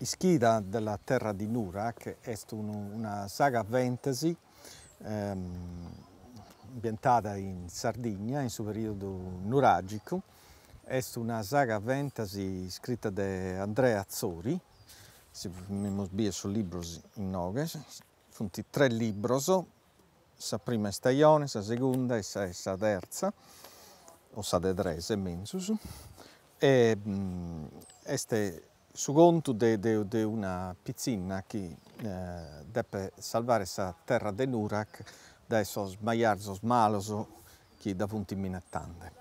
Ischida della terra di Nurac est una saga fantasy ambientada in Sardigna in su periodu nuragicu, est una saga fantasy iscrita de Andrea Atzori, si bidimus bene sos libros innoghe Funt tres libros, sa prima istajone, sa segunda e sa e sa terza, o sa de tres est menzus, e est su contu de de de una pitzinna chi depet salvare sa terra de Nurac dae sos majarzos malos chi dda funt minetande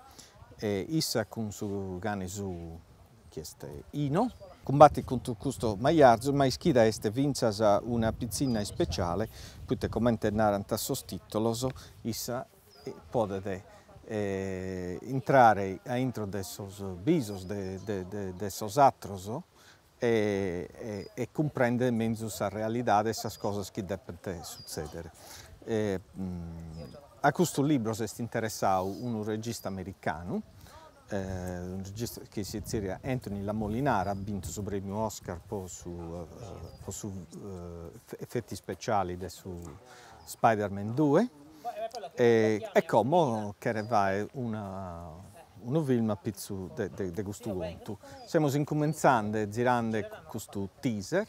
e issa cun su cane suu, chi est Ino, cumbatit contra custos majarzos ma Ischida est fintzas una pitzinna ispeciale poita comente narant sos titolos issa podet intrare a intro de sos bisos de sos ateros e cumprendere menzus sa realidade e sas cosas chi depent sutzedere. A custu libru s' est interessadu unu regista americanu, unu regista chi si tzeriat Anthony La Molinara, at bintu su premiu Oscar po su po sos efetos ispeciales de su Spiderman duos E como cheret fàghere unu film a pitzu de custu contu. Semus incumentzande zirande custu teaser,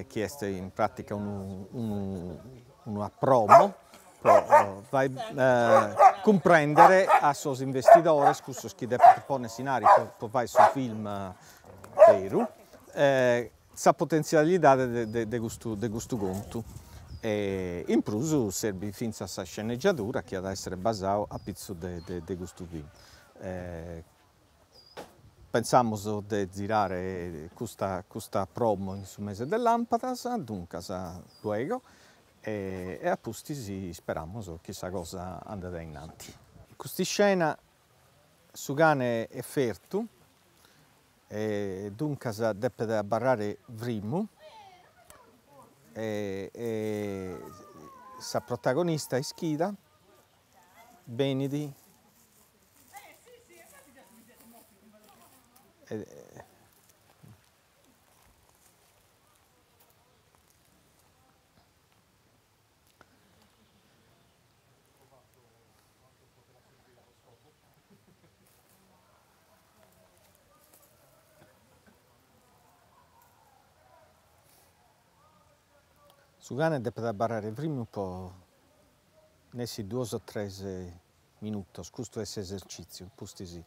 chi est in pràtica una promo pro fàghere cumprèndere a sos investidores, cussos chi depent pònnere s'inari pro fàghere su film beru, sa potentzialidade de custu de custu contu. In prus serbit fintzas sa sceneggiadura chi at a èssere basada a pitzus de de custu film. Pensamus de zirare custa custa promo in su mese de lampadas, duncas luego e a pustis isperamus chi sa cosa andet ainnanti. Cust'iscena Su cane est fertu e duncas depet abarrare frimu e sa protagonista Ischida benit Su cane depet abbarrare firmu po nessi duos o tres minutos, custu est s'esercìtziu, pustis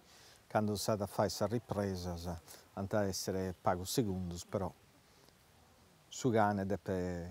cando s'at a fàghere sas ripresas ant a èssere pagu segundus però su cane depet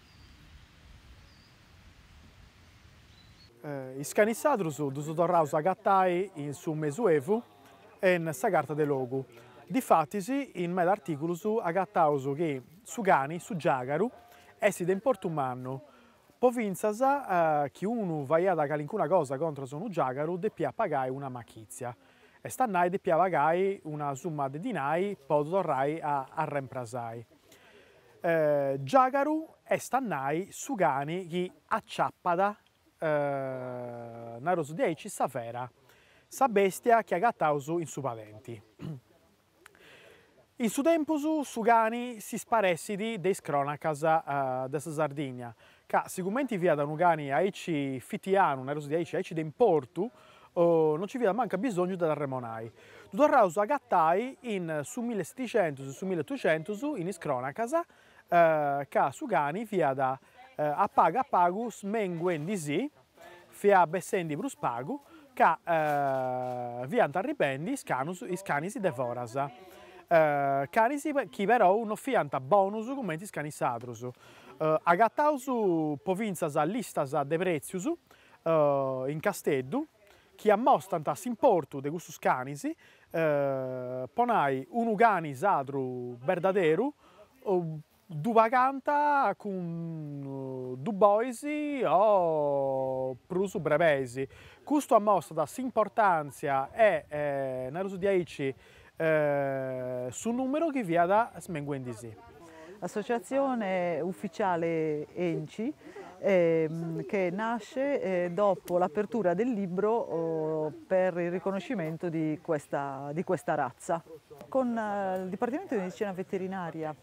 Is canis sadrus ddus torraus a agatai in su Mesuevu e in sa Carta de Logu. Difatis, in meda artìculus agataus chi su cani, su giàgaru, essit de importu mannu, po fintzas chi unu faiat calincuna cosa contras unu giàgaru depiat pagai una machìtzia, est a nai depiat pagai una summa de dinai po ddu torrai a arremprasai. Giàgaru est a nai su cani chi aciapat, naraus de aici, sa fera, sa bèstia chi agataus in su padenti. In su tempus su cani s'isparessit de is crónacas de sa Sardigna, Ca sicumenti fiat unu cani aici fitianu, naraus de aici, aici de importu, non nci fiat mancu abisòngiu de dd'arremonai. Ddu torraus a agatai in su milli setixentus, in su milli otuxentus, in is crònacas, ca su cani fiat a pagu a pagu smenguendi·si, Fiat bessendi prus pagu ca fiant arribendi is canus, is canis de foras. Canis chi perou no fiant bonus cumenti is canis sadrus. Agataus po fintzas listas de pretzius in Casteddu chi ammostant s'importu de custus canis, po nai unu cani sadru berdaderu Ddu pagànta cun dus bois o prus brebeis. Custu amostat s'importàntzia e, naraus de aici, su nùmeru chi fiat smenguendi·si. Associazione ufficiale Enci che nasce dopo l'apertura del libro per il riconoscimento di questa razza. Con il Dipartimento di Medicina Veterinaria.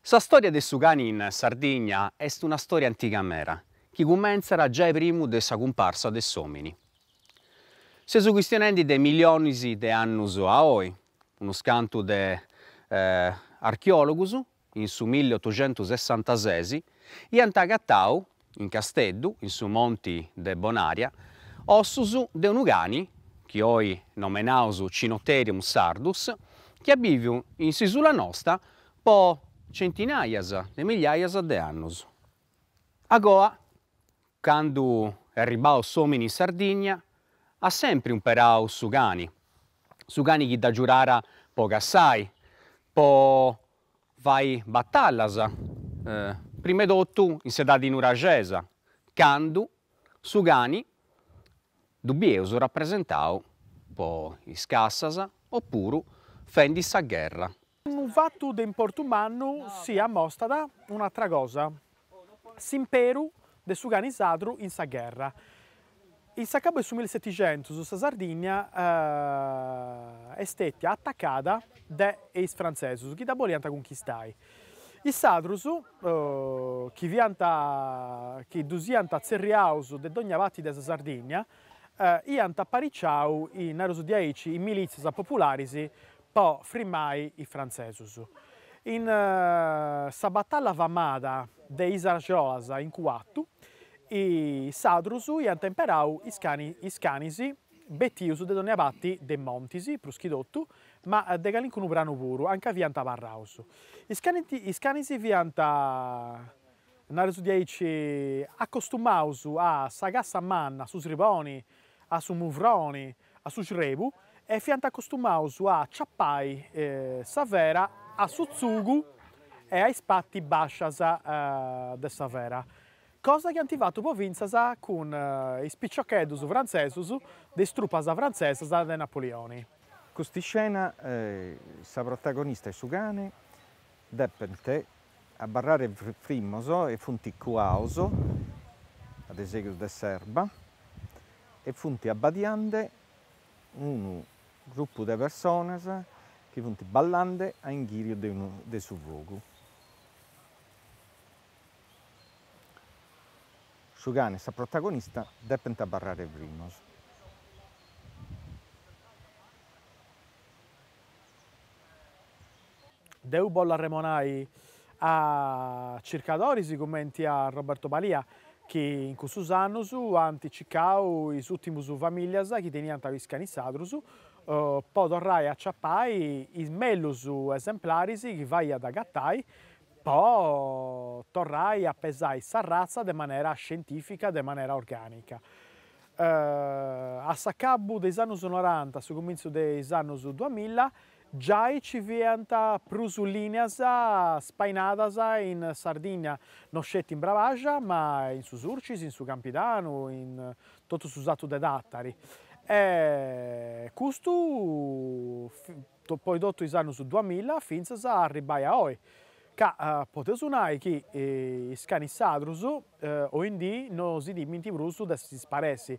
Sa stòria de su cani in Sardigna est una stòria antiga mera, chi cumentzat giai primu de sa cumparsa de s'òmini. Seus chistionendi de milionis de annus a oi, unus cantu de archeòlogus in su milli otoxentusessantases iant agatau in Casteddu, in su monti de Bonaria, ossus de unu cani chi oi nomenaus Cynotherium sardus, chi at bìviu in s'isula nosta po centinàias de milliàias de annus. Agoa, candu est arribau s'òmini in Sardigna, at sempri umperau su cani, su cani chi dd'agiurara po cassai, po fai batallas, prima 'e totu in s'edadi nuraxesa, candu su cani ddu bieus rapresentau po is cassas opuru fendi sa gherra. Unu fatu de importu mannu si amostat un'atra cosa, S'imperu de su cani sadru in sa gherra. In s'acabu 'e su milisetixentus sa Sardigna est stètia atacada de is frantzesus chi dda boliant cunchistai. Is sadrus, chi fiant chi ddus iant tzerriaus de dogna pati de sa Sardigna, iant apariciau, nareus de aici, in milìtzias popularis po frimmai is frantzesus. In sa batalla famada de is Arjolas in Cuatu, is sadrus iant imperau is canis betius de dònnia parti de montis, prus chi totu, ma de calincunu pranu puru, anca fiant abarraus. Is canis fiant, nareus de aici, acostumaus a sa cassa manna, a su sriboni, a su muvroni, A su srebu e fiant acostumaus a aciapai sa fera a su tzugu e a is pati bascias de sa fera, cosa chi ant fatu po fintzas cun is piciocheddus frantzesus de is trupas frantzesas de Napoleoni. Custa iscena, sa protagonista e su cane depent abarrare frimmos e funt cuaos a de segus de s'erba e funt abbadiande unu grupu de personas chi funt ballande a inghìriu de su fogu. Su cane e sa protagonista depent abarrare frimmos. Deu bollu arremonai a circadoris cumenti a Roberto Balia chi in cussus annus ant cicau is ùltimus famìllias chi teniant is canis sadrus po torrai a aciapai is mellus esemplaris chi faiat agatai po torrai a pesai s'arratza de manera scientìfica, de manera orgànica. A s'acabbu de is annus noranta, a su cumintzu de is annus duamilla, giai ci fiant prus lìnias spainadas in Sardinnia, no sceti in Bravaja, ma in su Surcis, in su Campidanu, in totu su Satu de Tàtari. E custu Poi totu is annus duamilla fintzas a arribbai a oi, ca podeus nai chi is canis sadrus oindì no si timmint prus de si sparessi.